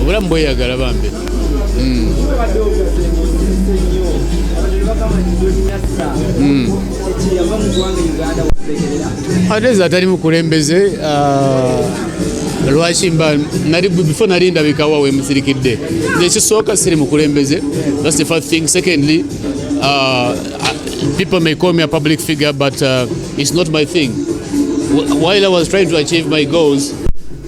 obulamu bweyagala bambi hmm. hmm. ate eza atali mukulembeze ah, lwaki mba nali before nali ndabikawa wemusirikidde nekisooka siri mukulembeze thats the first thing secondly uh, people may call me a public figure but uh, it's not my thing while i was trying to achieve my goals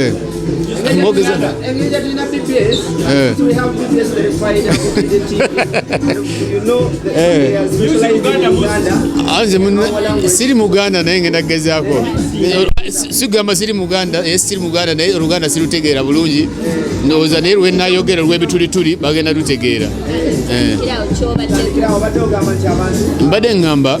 Eh. siri muganda naye ngenda kugezaako sigamba siri muganda naye siri muganda naye oluganda sirutegeera bulungi ndowooza naye lwenayogera olwebitulituli bagenda lutegeera eh. mbadde ngamba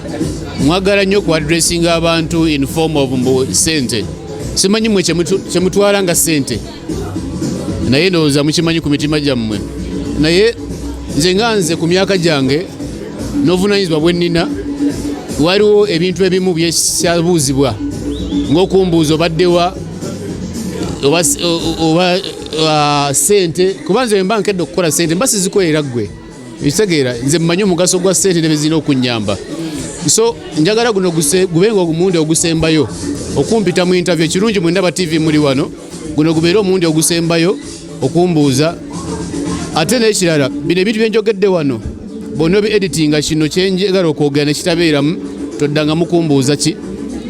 mwagala nnyo ku addressing abantu in form of mbu sente simanyi mwe kyemutwala nga sente naye ndowooza mukimanyi ku mitima gyammwe naye nze nga nze ku myaka gyange n'obuvunaanyizibwa bwe nnina waliwo ebintu ebimu byekyabuuzibwa ng'okumbuuza obaddewa oba sente kuba nze mba nkedde okukola sente mba sizikoera ggwe bitegeera nze mmanyi omugaso gwa sente nebezirina okunyamba so njagala guno gubenga omulundi ogusembayo okumpita mu interview ekirungi mwendaba tv muli wano guno gubeere omulundi ogusembayo okumbuuza ate nekirala bino ebintu byenjogedde wano bonna obi editinga kino kyenjagala okwogera nekitabeeramu toddanga mukumbuuza ki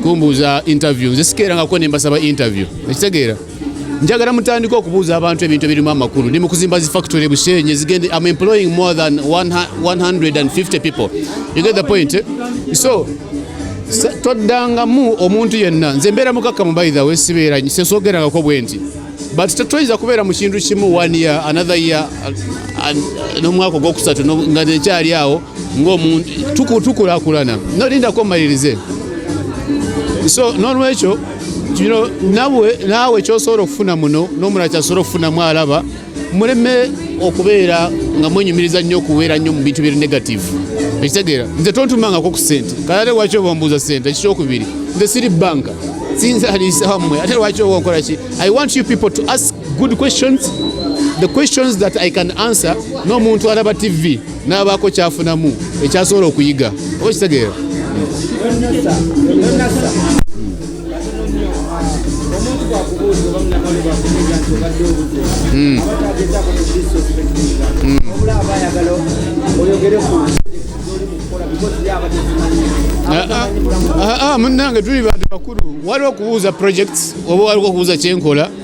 kumbuuza interview nze sikeerangako nembasaba interview ekitegeera njagala mutandika okubuuza abantu ebintu ebirimu amakulu ndi mukuzimba zi factory bushenye zigende am employing more than 150 people you get the point eh? so toddangamu omuntu yenna nze mbeera mukakkamu by the way sibeera sesoogerangako bwenti but tetweyinza kubeera mu kintu kimu one year another year uh, uh, n'omwaka ogwokusatu nga nekyali awo ng'omuntu tukulakulana nolindako mmalirize so nolwekyo kino nawe naawe kyosobola okufuna muno n'omulala kyasobola okufunamu alaba muleme okubeera nga mwenyumiriza nnyo okuweera nnyo mu bintu biri negative ekitegeera nze tontumangako ku sente kalate lwaki oba mbuuza sente ekikyokubiri nze siri banka sinzaliisawammwe ate lwaki oba onkola ki i want you people to ask good questions the questions that i can answer n'omuntu alaba tv n'abaako kyafunamu ekyasobola okuyiga oba kitegeera hmm. hmm. ah, ah, ah, munange tuli bantu bakulu waliwo okubuuza projects oba waliwo okubuuza kyenkola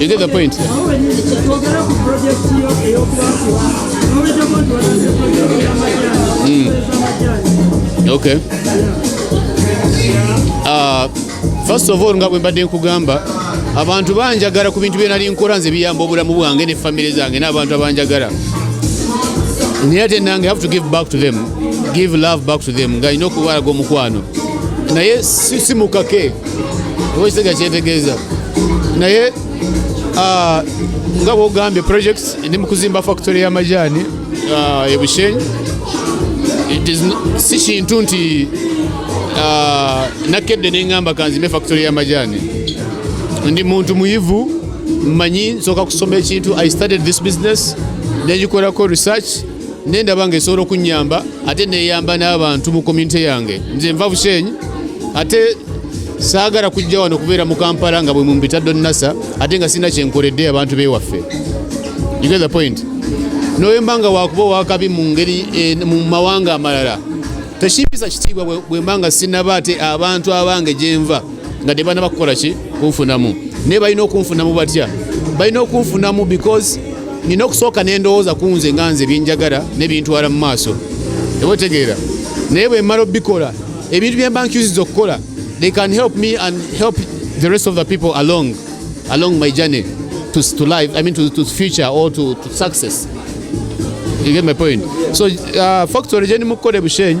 You get the point? Mm. Okay. Uh, first of all nga bwe mbadde nkugamba abantu banjagala ku bintu byenali nkora nze biyamba obulamu bwange ne famire zange n'abantu abanjagala naye ate nange have to give back to them give love back to them nga alina okubalaga omukwano naye simukake ekisajja kyetegeeza naye ah, nga bwogambye projects ndi mu kuzimba factory y'amajaani ah, e bushenyi si kintu nti ah, nakedde neŋŋamba kanzimbe factory y'amajaani ndi muntu muyivu mmanyi nsooka kusoma ekintu i started this business nengikolako research nendaba nga esobola okunyamba ate neyamba n'abantu mu community yange nze nva bushenyi ate saagala kujja wano kubeera mu kampala nga bwe mumpita donnasa ate nga sirina kyenkoledde abantu bewaffe you get the point noyemba nga wakuba owakabi mu ngeri eh, mu mawanga amalala tekimpisa kitiibwa bwemba nga sinaba ate abantu abange gyenva nga tebana bakukola ki kunfunamu naye balina okunfunamu batya balina okunfunamu because nina okusooka nendowooza kunze nga nze byenjagala nebintwala mu maaso eba otegeera naye bwemala obikola ebintu byemba nkyusiza okukola they can help me and help the rest of the people along along my journey to, to life i mean to, to future or to, to success you get my point so uh, factory gye ni mukukola ebushenyi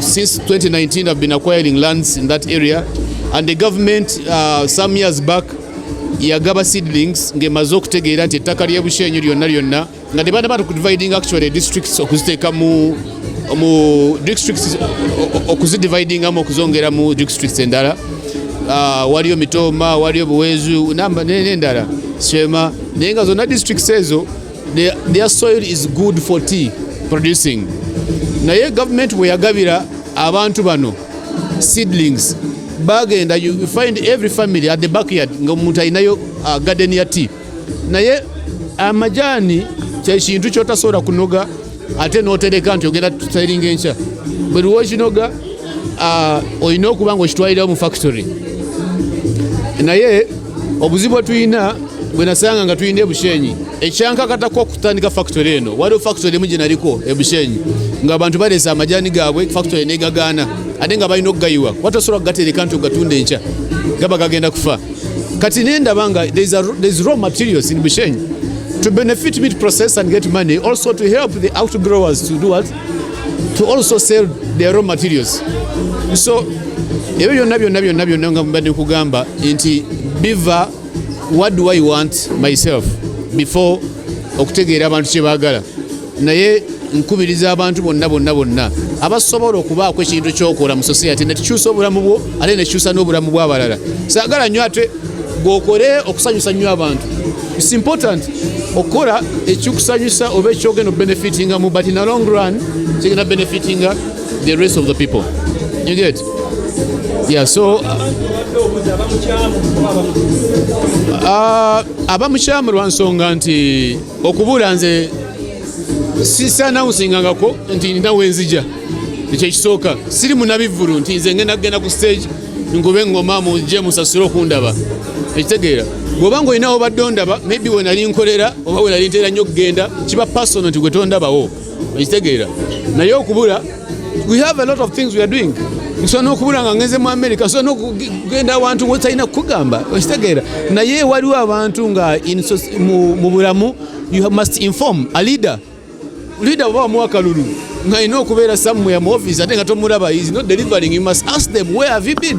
Since 2019 I've been acquiring lands in that area and the government uh, some years back yagaba seedlings ng'emaze okutegeera nti ettaka ly'e Bushenyi lyonna lyonna nga ne banaba okudividing actually districts okuziteeka mu mu districts okuzidividingamu okuzongera mu districts endala uh, waliyo Mitooma waliyo Buweezu n'endala Sheema naye nga zonna districts ezo Their, their soil is good for tea producing. Naye government we yagabira abantu bano seedlings bagenda you find every family at the backyard nga omuntu alinayo uh, garden ya tea naye amajani kyekintu kyotasobola kunoga ate notereka nti ogenda tusayiringa enkya buli lwokinoga ah, olina okuba nga okitwalirawo mu factory naye obuzibu bwetulina bwenasanga nga tulina ebushenyi ekyankakatako okutandika factory eno waliwo factory emu gyenaliko ebushenyi nga abantu baleesa amajani gaabwe factory negagaana ate nga balina okugayiwa watasobola kugatereka nti ogatunda enkya gaba gagenda kufa kati nendaba nga there's raw materials in Bushenyi to benefit meat process and get money also to help the outgrowers to do what to also sell their raw materials so ebyo byonna byonna byonna byonna nga mbadde kugamba nti biva what do i want myself before okutegeera abantu kye baagala naye nkubiriza abantu bonna bonna bonna abasobola okubaako ekintu kyokola mu society nekikyusa obulamu bwo ate nekikyusa n'obulamu bw'abalala saagala nnyo ate gwokole okusanyusa nnyo abantu its important okukola ekikusanyusa oba ekyogenda obenefitinga mu but in a long run kigenda benefitinga the rest of the people you get yeah so uh, aba mukyamu lwa nsonga nti okubuula nze sisanawusingangako nti nina wenzija ekyo ekisooka siri munabivvulu nti nze ngenda kugenda ku stage nkube ngoma muje musasule okundaba ekitegeera bwoba nga olinawo badde ondaba maybe wenali nkolera oba wenali ntera nnyo okugenda kiba pasono nti gwe tondabawo ekitegeera naye okubula we have a lot of things we are doing nsobola n'okubula nga ngenze mu america nsobola n'okugenda awantu wetalina kukugamba okitegeera naye waliwo abantu nga mu bulamu you must inform a leader leader oba wamuwa kalulu ng'alina okubeera somewhere mu office ate nga tomulaba is not delivering you must ask them where have you been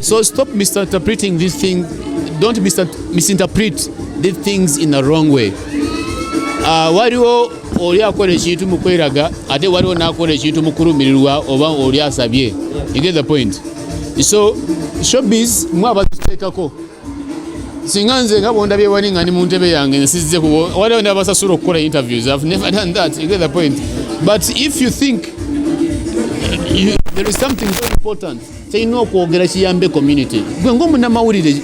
So stop misinterpreting these things. Don't misinterpret these things in a wrong way. Uh, waliwo oli akola ekintu mu kweraga ate waliwo n'akola ekintu mu kulumirirwa oba oli asabye you get the point so showbiz mwe abaziteekako singa nze nga bwondabye wali nga ndi mu ntebe yange nsizze kubo waliwo nabasasula okukola interviews i've never done that you get the point but if you think you, there is something very important tulina okwogera kiyambe community gwe ngaomunamawulire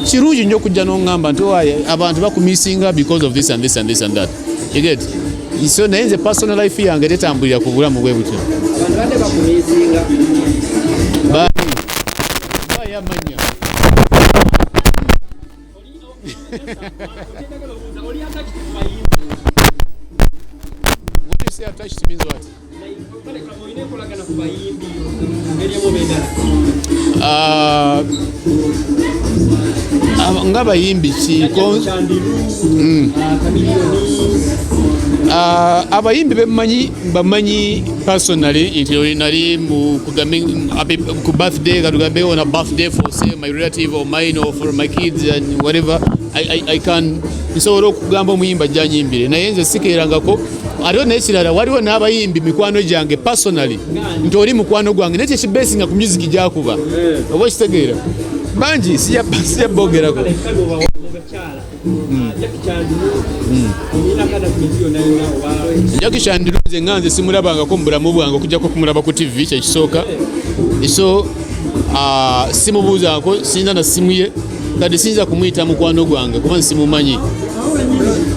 kirungi nyo okujja nongamba nti owaye oh, abantu bakumisinga because of this and this and this and that you get so naye nze personal life yange tetambulira ku bulamu bwe butyo Ah, ah, nga bayimbi ki mm. ah, abayimbi bemanyi bamanyi personally nti nali ku birthday katugambe on a birthday for say my relative or mine or for my kids and whatever I, I, I can nsobola okugamba omuyimba janyimbire naye nze sikerangako ate nekirala waliwo n'abayimbi mikwano gyange personally nti oli mukwano gwange naye kyekibesinga ku music gyakuba oba okitegeera bangi siyabbogerako Jackie Chandiru nze nga nze simulabangako mu bulamu bwange okujjako okumulaba ku TV kyekisooka so ah, simubuuzaako siyinza na simu ye kati siyinza kumuyita mukwano gwange kuba nsimumanyi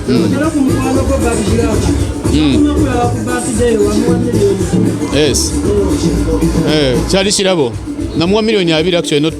hmm. hmm. eh, kyali kirabo namuwa miliyoni abiri actually not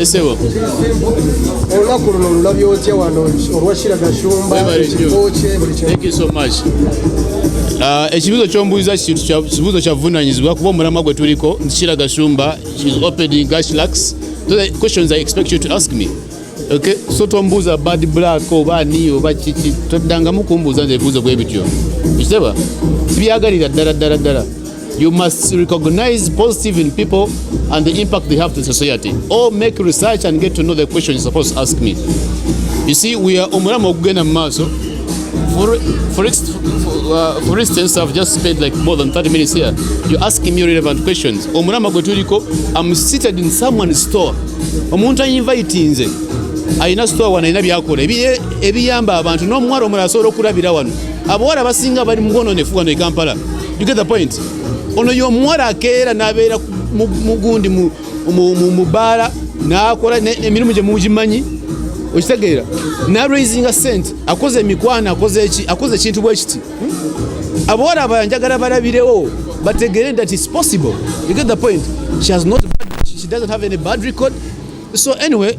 esebo olunaku luno olulabye otya wano olwashira gashumba ekikokye buli ah, ekibuzo kyombuuza kibuzo kyavunanyizibwa kuba omulamwa gwe tuliko nti shira gashumba is opening gashlax so the questions i expect you to ask me okay so tombuuza bad black oba ani oba kiki toddangamu kumbuuza nze ebibuuzo bwe bityo ekiteba sibyagalira ddala ddala ddala You must recognize positive in people and the impact they have to society. Or make research and get to know the question you're supposed to ask me. You see, we are omulamu okugenda mu maaso. For, for, uh, for instance, I've just spent like more than 30 minutes here. You're asking me relevant questions. Omulama gwe tuliko, I'm seated in someone's store. Omuntu ayinvitinze. Alina store wano alina byakola. Ebiyamba abantu n'omuwala omulala asobola okulabira wano. Abawala basinga bali mu bwononefu wano e Kampala. You get the point? Ono y'omuwala akeera n'abeera mugundi mu baala n'akola emirimu gye mugimanyi okitegeera naraisinga sente akoze emikwano akoze eki akoze ekintu bwe kiti abawala abala njagala balabirewo bategere that is possible you get the point she has not she doesn't have any bad record so anyway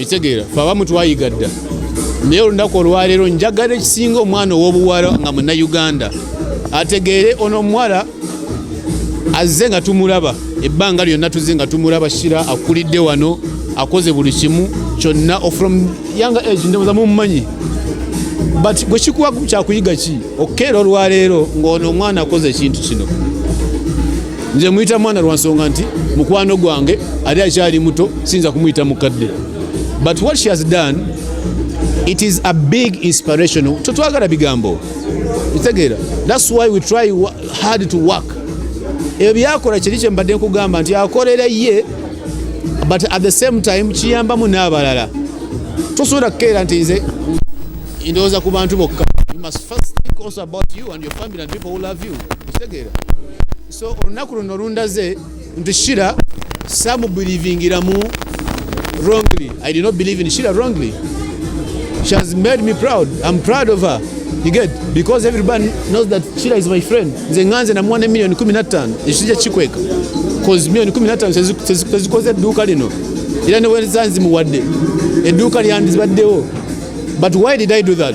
ekitegeera fe abamu twayiga dda naye olunaku olwaleero njagala ekisinga omwana ow'obuwala nga munnayuganda ategeere ono omuwala azze nga tumulaba ebbanga lyonna tuzze nga tumulaba shira akulidde wano akoze buli kimu kyonna from young age ndowoza mumumanyi but gwe kikuwa kyakuyiga ki okukeera olwaleero ng'ono omwana akoze ekintu kino nze muyita mwana lwa nsonga nti mukwano gwange ali akyali muto siyinza kumuyita mukadde but what she has done it is a big inspiration totwagala bigambo kitegeera thats why we try hard to work ebyo byakola kiri kye mbadde nkugamba nti akolera ye but at the same time kiyambamu n'abalala tosobola kukeera nti nze ndowooza ku bantu bokka you must first think also about you and your family and people who love you kitegeera so olunaku luno lundaze nti shira samubulivingiramu wrongly i did not believe in shira wrongly she has made me proud i'm proud of her you get because everybody knows that shira is my friend nze nganze namuwa ne million 15 ekisija kikweka cause million 15 tezikoze edduuka lino era newezanzimuwadde edduuka lyandibaddewo but why did i do that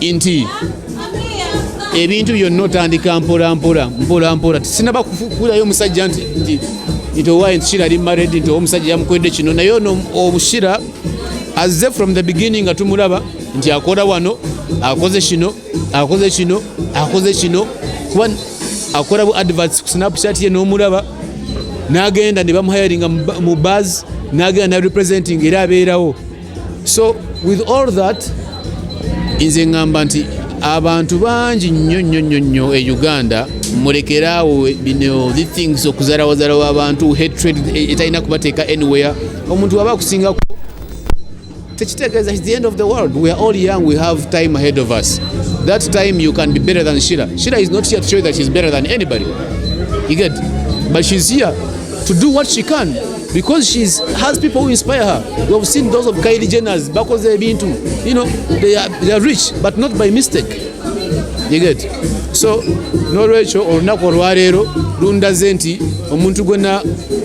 nti ebintu byonna otandika mpolampola mpolampola tisinaba kukulayo omusajja nti nti owaye nti kira ali maredi nti omusajja yamukwedde kino naye ono obushira azze from the beginning nga tumulaba nti akola wano akoze kino akoze kino akoze kino kuba akola bu adverts ku snapchat ye n'omulaba n'agenda ne bamuhayaringa mu bas n'agenda na representing era abeerawo so with all that nze ngamba nti abantu bangi nnyo nnyo nnyo nnyo e uganda mulekeraawo bino the things okuzarawazarawo abantu hatred e, etalina kubateeka anywhere omuntu waba akusingako tekitegeeza the end of the world we are all young we have time ahead of us that time you can be better than shira shira is not here to show that she's better than anybody you get but she's here to do what she can because she has people who inspire her. We have seen those of Kylie Jenner's bakoze ebintu. You know, they are, they are rich but not by mistake. You get? So n'olwekyo olunaku olwaleero lundaze nti omuntu gwena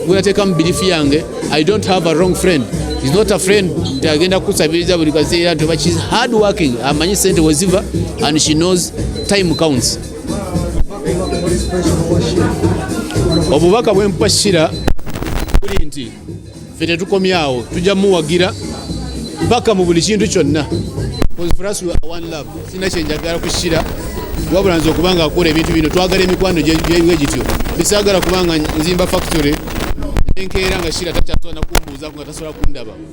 gwenateeka mu birifu yange I don't have a wrong friend is not a friend nti agenda kukusabiriza buli kaseera nti oba she's hard working amanyi sente weziva and she knows time counts obubaka bwempa sira buli nti fe tetukomyawo tujja muwagira paka mu buli kintu kyonna sina kyenjagala kusira wabula nze okuba nga akola ebintu bino twagala emikwano gyewe gityo bisaagala kubanga nzimba factory enkeera nga sira takyasobola nakumbuuzaku nga tasobola kundaba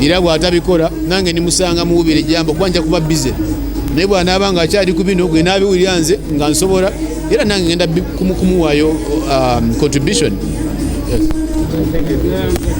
era bw'atabikola nange ndimusanga muwubira ejjambo kuba nja kuba bize naye bw'anaaba nga akyali ku bino gwe naabiwulira nze nga nsobola era nange ngenda kumuwaayo um, contribution yes.